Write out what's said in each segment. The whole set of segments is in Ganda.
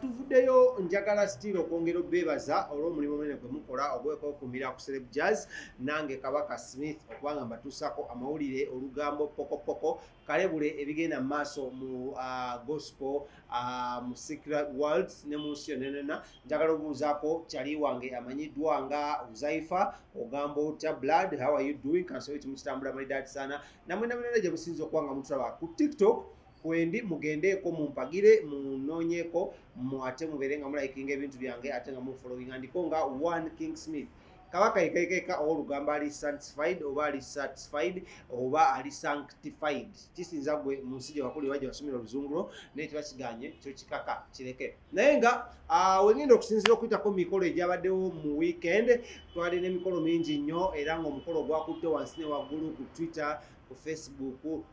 tuvuddeyo njagala still okwongera obeebaza olw'omulimu omunene gwe mukola ogwekwokumira ku celeb jazz nange kabaka smith okubanga mbatuusako amawulire olugambo pokopoko kalebule ebigenda mu maaso mu uh, gospel uh, mu secret world ne mu nsi yonenena njagala obuuzaako kyali wange amanyiddwa nga uzaifa ogamba otya blood how are you doing kansobe kimukitambula malidaati sana namwe namunene gye musinza okuba nga mutulaba ku tiktok kwendi mugendeeko mumpagire munoonyeko mu ate mubeere nga mulayikinga ebintu byange ate nga mufolowinga ndiko nga one king smith kabaka yekekeka owolugambo ali sanctified oba ali satisfied oba ali sanctified kisinza gwe mu nsi gyewakuli oba gyewasomera oluzungulo naye kiba kiganye kyo kikaka kireke naye nga ah, wengenda okusinzira okuyitako mu mikolo egyabaddewo mu weekend twali n'emikolo mingi nnyo era ngaomukolo ogwakutte wansi ne waggulu ku twitter ku facebook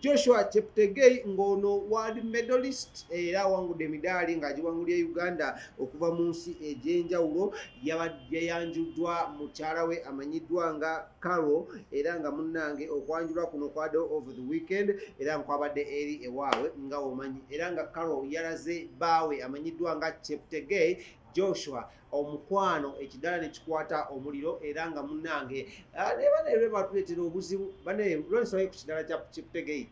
Joshua Cheptegei ng'ono world medalist era awangudde emidaali ng'agiwangulira Uganda okuva mu nsi egy'enjawulo yayanjuddwa mukyala we amanyiddwa nga Carol era nga munnange okwanjulwa kuno kwade over the weekend era nkwabadde eri ewaabwe nga womanyi era nga Carol yalaze baawe amanyiddwa nga Cheptegei Joshua omukwano ekidala nekikwata omuliro era nga munange ah, nebanebatletera obuzibu banelwensonga ku kidala kya kikutegei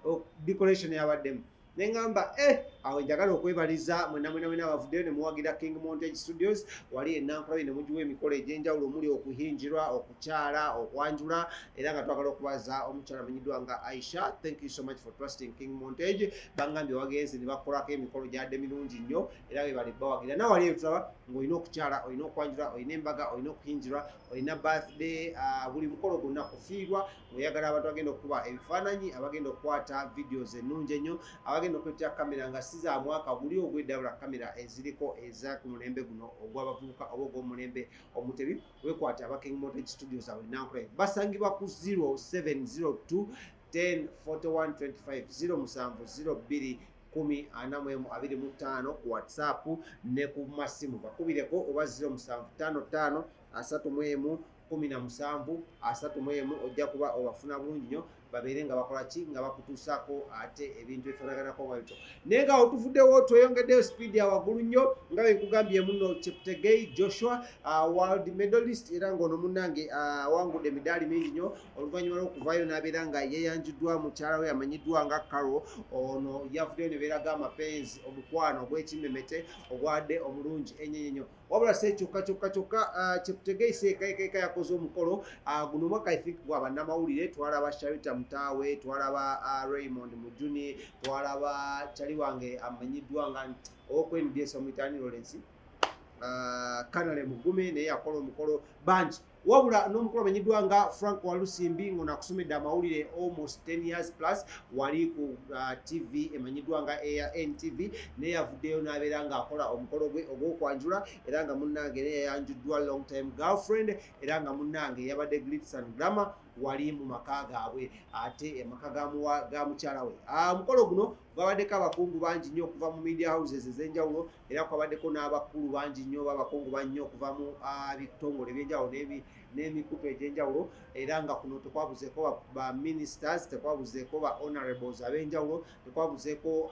oh, decoration yabaddemu nengamba e eh, awo njagala okwebaliza mwenamwenamwena abavuddeyo nemuwagira king montage studios wali enankulabi nemugiwa emikolo egyenjawulo omuli okuhinjirwa okukyala okwanjula era nga twagala okubaza omukyala amanyiddwa nga aisha thank you so much for trusting king montage bangambye wagenze nebakolako emikolo gyadde mirungi nnyo era webale bawagira nawe wali ebitaba ng'olina okukyala olina okwanjula olina embaga olina okuyinjirwa olina birthday ah, buli mukolo gwonna kufiirwa ng'oyagala abantu bagenda okukuba ebifaananyi abagenda okukwata videos ennungi ennyo abagenda okuletera kamera nga si za mwaka guli ogwedabula kamera eziriko eza ku mulembe guno ogw'abavubuka oba ogw'omulembe omutebi wekwate abaking motage studios awe nankulayi basangibwa ku 0702 104125 070 2 kumi ana mu emu abiri mu ttaano ku whatsapp ne ku masimu bakubireko oba ziro musanvu ttaano ttaano asatu mu emu kumi na musanvu asatu mu emu ojja kuba obafuna bulungi nyo babeere nga bakola ki nga bakutuusaako ate ebintu ebifaanaganako nga bityo naye nga otuvuddewo tweyongeddeyo sipiidi ya waggulu nnyo nga benkugambye muno cheptegei joshua uh, world medalist era ng'ono munnange uh, awangudde uh, emidaali mingi nnyo oluvannyuma lw'okuvaayo n'abeera nga yeyanjiddwa mukyala we amanyiddwa nga karo ono yavuddeyo ne beeraga amapenzi omukwano ogw'ekimmemete ogwadde omulungi ennyo ennyo wabula se kyokka kyokka kyokka uh, kyekutegeise ekaekaeka yakoze omukolo uh, guno omwaka i think gwa bannamawulire twalaba sharita mutaawe twalaba uh, raymond mujuni twalaba kyali wange amanyiddwa nga okwendesa omuitaani lawrence kanale mugume naye yakola omukolo bangi wabula n'omukulu amenyiddwa nga frank walusimbi ngono akusomedde amawulire almost 10 years plus wali ku uh, tv emanyiddwa nga eya ntv naye yavuddeyo n'abeera ng'akola omukolo gwe ogw'okwanjula era nga munnange naye yayanjuddwa long time girlfriend era nga munnange yabadde glits and grammar wali mu maka gaabwe ate amaka ga mukyala we ah, omukolo guno gwabaddeko abakungu bangi nnyo okuva mu media houses ez'enjawulo era kwabaddeko n'abakulu bangi nnyo oba abakungu bannyo okuva mu bitongole ebyenjawulo n'emikutu egy'enjawulo era nga kuno tekwabuzeeko ba ministers tekwabuzeeko ba honorables ab'enjawulo tekwabuzeeko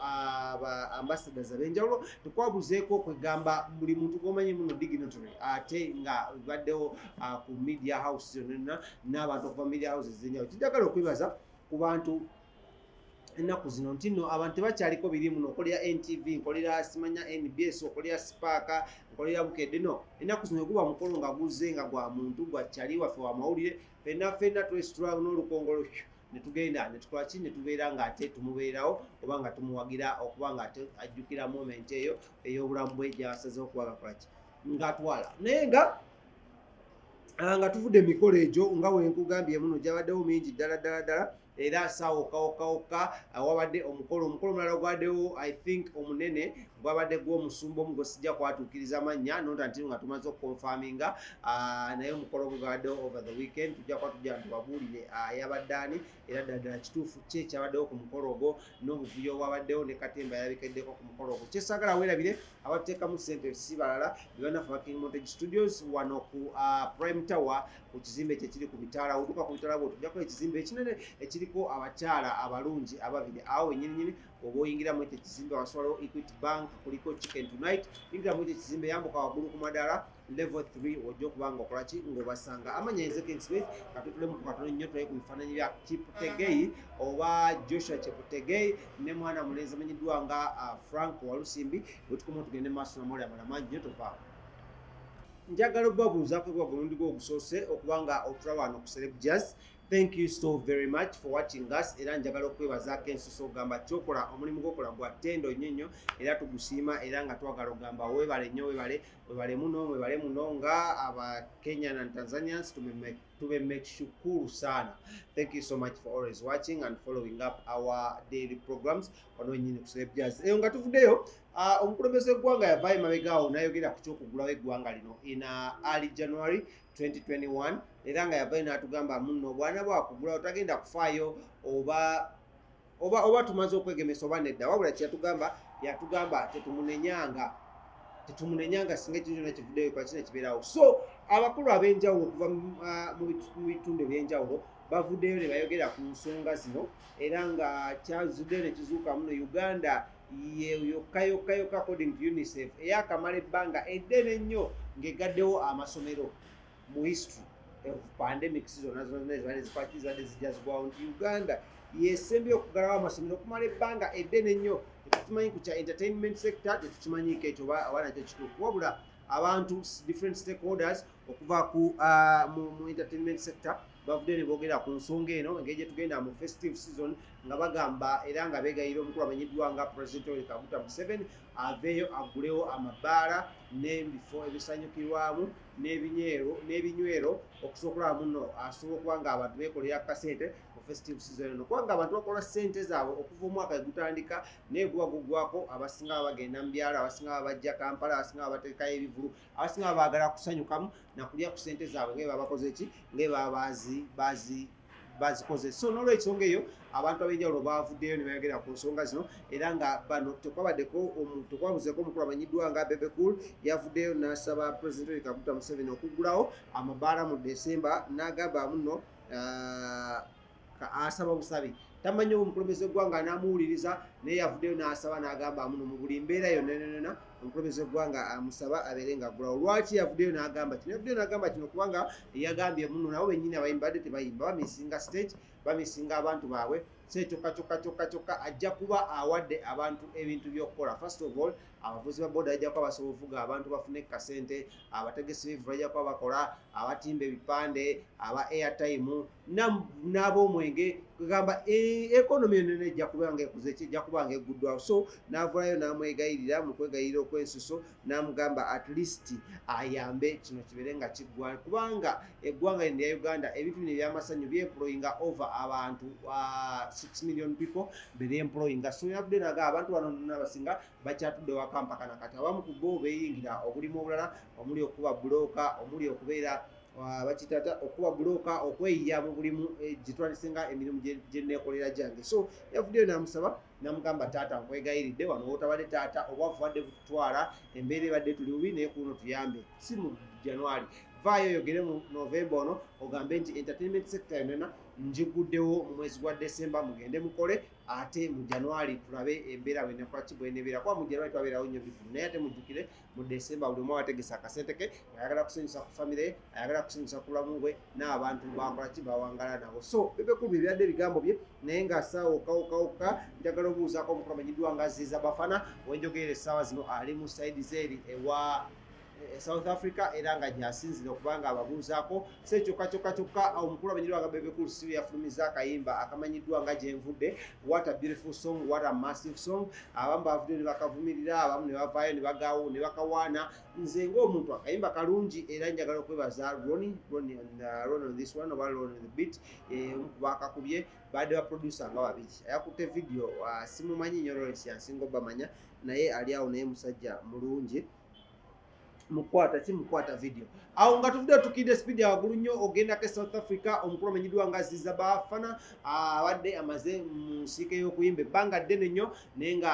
ba ambassadors ab'enjawulo tekwabuzeeko kwegamba buli muntu gwomanyi muno dignitary ate nga baddewo ku media house yonna n'abantu okuva media house ezenjawulo kijagala okwebaza ku bantu ennaku zino nti no abantu tebakyaliko birimu nokolera ntv nkolera simanya nbs okolera sipaaka nkolera bukedde no ennaku zino eguba mukolo nga guzze nga gwa muntu gwa kyali waffe wamawulire fenna fenna twesitula n'olukongolo netugenda netukolaki netubeera nga ate tumubeerawo oba nga tumuwagira okuba nga ate ajjukira moment eyo ey'obulamu bwe gyasazeho okuba gakolaki ngatwala naye nga ah, nga tuvudde emikolo egyo nga wenkugambye muno gyabaddewo mingi ddala ddala ddala era saawa okawokawokka uh, wabadde omukolo omukolo omulala ogwadewo i think omunene gwabadde gwomusumba omu gwesijja kwatuukiriza amannya nonta ntino nga tumaze okukonfaminga uh, naye omukolo omu gwabaddewo over the weekend tujja kuba tujja ntubabuulire uh, yabadde ani era ddaddala kituufu ki ekyabaddewo ku mukolo ogwo n'obuvuyo obwabaddewo ne katemba yalabikiddeko ku mukolo ogwo kyesagala weerabire abatekamu sente si balala bebanafe ba king montage studios wano ku uh, prime tower ku kizimbe kyekiri ku mitaala otuka ku mitaala bwotujako ekizimbe ekinene ekiriko abakyala abalungi ababiri awo wenyininyini oba oyingiramu ekyo ekizimbe waswalawo equity bank kuliko chicken tonight ingiramu ekyo ekizimbe yambuka wagulu ku madaala level 3 ojja okuba nga okola ki ng'obasanga amanya nze king smith katutulemu ku katono nnyo tulaye ku bifaananyi bya kiputegei oba joshua kiputegei ne mwana mulenzi amanyiddwa nga uh, frank walusimbi wetukoma tugende maaso namawulire amala mangi nnyo tovaamu njagala okubabuuzaako kuba gwemundi gwe ogusoose okuba nga otula wano ku celeb jazz thank you so very much for watching us era njagala okwebazaako ensuso okugamba kyokola omulimu gwokola gwa tendo nnyo nnyo era tugusiima era nga twagala okugamba webale nnyo webale Webale muno, webale muno nga aba Kenyan and Tanzanians to be to be make shukuru sana. Thank you so much for always watching and following up our daily programs. Ono nyini kusebe jazz. Eyo nga tuvudeyo, uh, omukulembeze gwanga ya vaye mabega awo nayo gera kucho kugula we gwanga lino in uh, early January 2021. Era nga ya vaye na atugamba muno bwana bwa kugula otagenda kufayo oba oba oba tumaze okwegemesa oba nedda wabula kyeyatugamba yatugamba tetumunenyanga tetumunenyanga singa ekintu kyona kivudeyo kwakina kibeerawo so abakulu ab'enjawulo okuva ah, mu bitundu eby'enjawulo bavuddeyo ne bayogera ku nsonga zino era nga kyazuddeyo ne kizuuka muno uganda yokka yokka yokka according to unicef eyakamala ebbanga eddene ennyo ng'egaddewo amasomero mu history of pandemics zonna zonna ezibadde zikwaki zibadde zijja zigwawo nti uganda yesembye okugalawo amasomero okumala ebbanga eddene ennyo tetukimanyi ku kya entertainment sector tetukimanyiiko ekyo oba nakyo kituufu wabula abantu different stakeholders okuva ku uh, mu entertainment sector bavudde ne boogera ku nsonga eno engeri gye tugenda mu festive season nga bagamba era nga beegayira omukulu amanyiddwa nga president oli kaguta museveni aveeyo agulewo amabaala n'ebifo ebisanyukirwamu n'ebinywero n'ebinywero okusobola okulaba muno asobola okuba nga abantu beekolera akasente mu festive season eno kubanga abantu bakola ssente zaabwe okuva omwaka egutandika naye guba gugwako abasinga baba bagenda mu byalo abasinga baba bajja kampala abasinga baba bateekayo ebivulu abasinga baba baagala kusanyukamu nakulya ku ssente zaabwe ngae baba bakoze ki ngae baba baazi baazi bazikoze so nolwensonga eyo abantu abenjawulo bavuddeyo ne bayogera ku nsonga zino era nga bano tekwabaddeko tekwabuzeko omukulu amanyiddwa nga bebe cool yavuddeyo n'asaba president oli kaguta museveni okuggulawo amabaala mu desemba n'agamba muno uh, asaba busabi tamanyi omukulembeze gwanga anamuwuliriza naye yavuddeyo n'asaba n'agamba muno mu buli mbeera yonananana omukulembeze w'eggwanga amusaba abeere nga aggulawo lwaki yavuddeyo n'agamba kino yavuddeyo n'agamba kino kubanga eyagambye muno nabo bennyini abayimbi badde tebayimba bamisinga stage bamisinga abantu baabwe so ekyokka kyokka kyokka kyokka ajja kuba awadde abantu ebintu by'okukola first of all abavuzi ba boda bajja kuba basobola ovuga abantu bafune ku kasente abategesi b'ebivu bajja kuba bakola abatimba ebipande aba airtime n'abomwenge kugamba ekonomi eh, enene ejja kubanga ekuze ki ejja kubanga eguddwawo so n'avulayo n'amwegayirira mu kwegayirira okwensuso n'amugamba at least ayambe kino kibeere nga kiggwa kubanga eggwanga lino lya uganda ebintu bino ebyamasanyu byemployinga over abantu 6 ah, million people bebyemployinga so yavudde naga abantu bano nona abasinga bakyatudde wakampaka nakati abamu ku bo beyingira obulimu obulala omuli okuba bulooka omuli okubeera Ah, bakitata okuba buloka okweyiya mu bulimu eh, gyetwandisinga emirimu gyenekolera gyange so yavuddeyo namusaba namugamba taata nkwegayiridde wano wotabadde taata oba vuvadde kututwala embeera ebadde tuli bubi naye kuno tuyambe si mu january vaayo oyogere mu novemba ono ogambe nti entertainment sector yonena njiguddewo mu mwezi gwa decemba mugende mukole ate mu january tulabe embeera wenekolaki bwenebeera kuba mu january twabeerawo nyo bifu naye ate mujjukire mu December buli omu abategese akasente ke ayagala kusanyusa ku famire ye ayagala kusanyusa ku bulamu bwe n'abantu bakola ki bawangala nabo so bebekulu bye byadde ebigambo bye naye nga saawa okawukawuka njagala obuuzaako omukulu amanyiddwa nga ziiza bafana wenjogerera essaawa zino ali mu saidi zeeri ewa e, e south africa era nga gyasinzira okubanga ababuuzaako se kyokka kyokka kyokka omukulu amanyi lwanga bebe cool siwe yafulumiza akayimba akamanyiddwa nga gyenvudde what a beautiful song what a massive song abamu bavudde ne bakavumirira abamu ne bavaayo ne bagawo ne bakawaana nze ng'omuntu akayimba kalungi era njagala okwebaza roni roni on uh, this one oba roni the beat eh, omu ku baakakubye baadde baproducer nga babiri ayakutte vidiyo uh, simumanyi nyo lawrence yansinga obamanya naye ali awo naye musajja mulungi mukwata ki mukwata video awo nga tuvudde tukidde speed ya wagulu nnyo ogendako e south africa omukulu amenyidwa nga ziza bafana abadde amaze mu nsiike y'okuyimba ebbanga ddene nnyo naye nga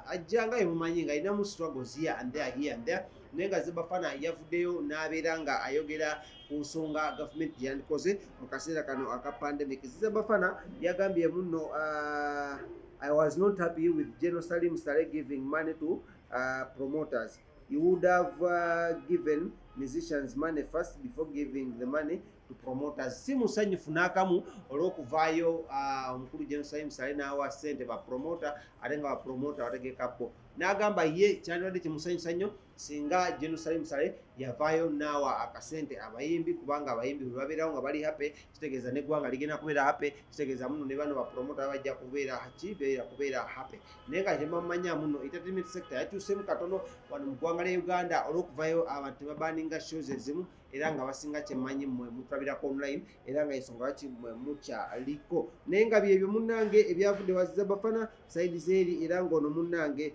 ajja nga yemumanyi nga alinamu struggles here and there here and there naye nga zibafana yavuddeyo n'abeera nga ayogera ku nsonga gavumenti gyeyandikoze mu kaseera kano aka pandemic zizabafana yagambye munno uh, i was not happy with general salim sale giving money to uh, promoters you would have uh, given musicians money first before giving the money to promoters si musanyufu n'akamu olw'okuvaayo uh, omukulu jerusalem sale n'awa sente bapromota ate nga bapromota bategeka bo n'agamba ye kyandibadde kimusanyusa nnyo singa jerusalem sale yavaayo n'awa akasente abayimbi kubanga abayimbi bwe babeerawo nga bali happy kitegeeza neggwanga ligenda kubeera happy kitegeeza muno ne bano bapromota bajja kubeera kibeera kubeera happy naye nga temamanya muno entertainment sector yakyusemu katono wano mu ggwanga lya uganda olwokuvayo abantu tebabaninga shows ezimu era nga basinga kyemanyi mwe mutulabirako online era nga ensonga lwaki mwe mukyaliko naye nga byebyo munnange ebyavudde wazizabafana saidi zeeri era ngaono munnange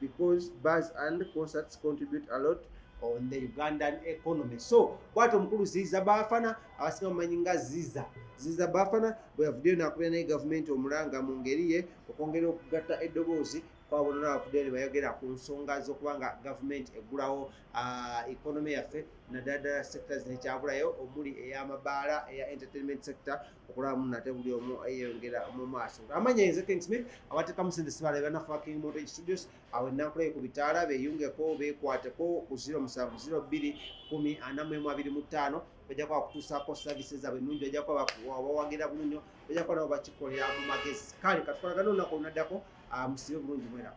because bars and concerts contribute a lot on the ugandan economy so bwati omukulu ziza bafana abasinga mumanyi nga ziza ziza bafana bweyavuddeyo nakubira naye gavumenti omulanga mu ngeri ye okwongera okugatta eddoboozi kwabonona abavuddeyo nebayogera ku nsonga zokuba nga gavumenti eggulawo ah, economy yaffe naddala ddala sectors nekyabulayo omuli eyamabaala eya entertainment sector okulaba muno ate buli omu eyongera mu maaso amanya nze kingsmith abatekamu sente sibala ebanafa king motor studios awo enankulayo ku bitaala beyungeko bekwateko ku 07021445 bajja kuba bakutuusaako service zaabwe ennungi bajja kuba bawagira bulunyo bajja kuba nabo bakikolera mu magezi kale katukolagana olunaku olunaddako ah, musibe bulungi mwerako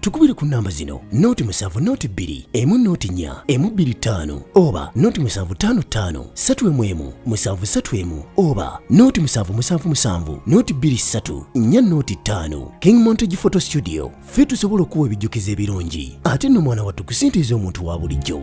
tukubire ku namba zino noti musanvu noti bbiri emu noti nnya emu bbiri ttaano oba noti musanvu ttaano ttaano ssatu emu emu musanvu ssatu emu oba noti musanvu musanvu musanvu noti bbiri ssatu nnya noti ttaano king montage photo studio ffe tusobola okuwa ebijjukizo ebirungi ate nno mwana wattu kusintiiza omuntu wa bulijjo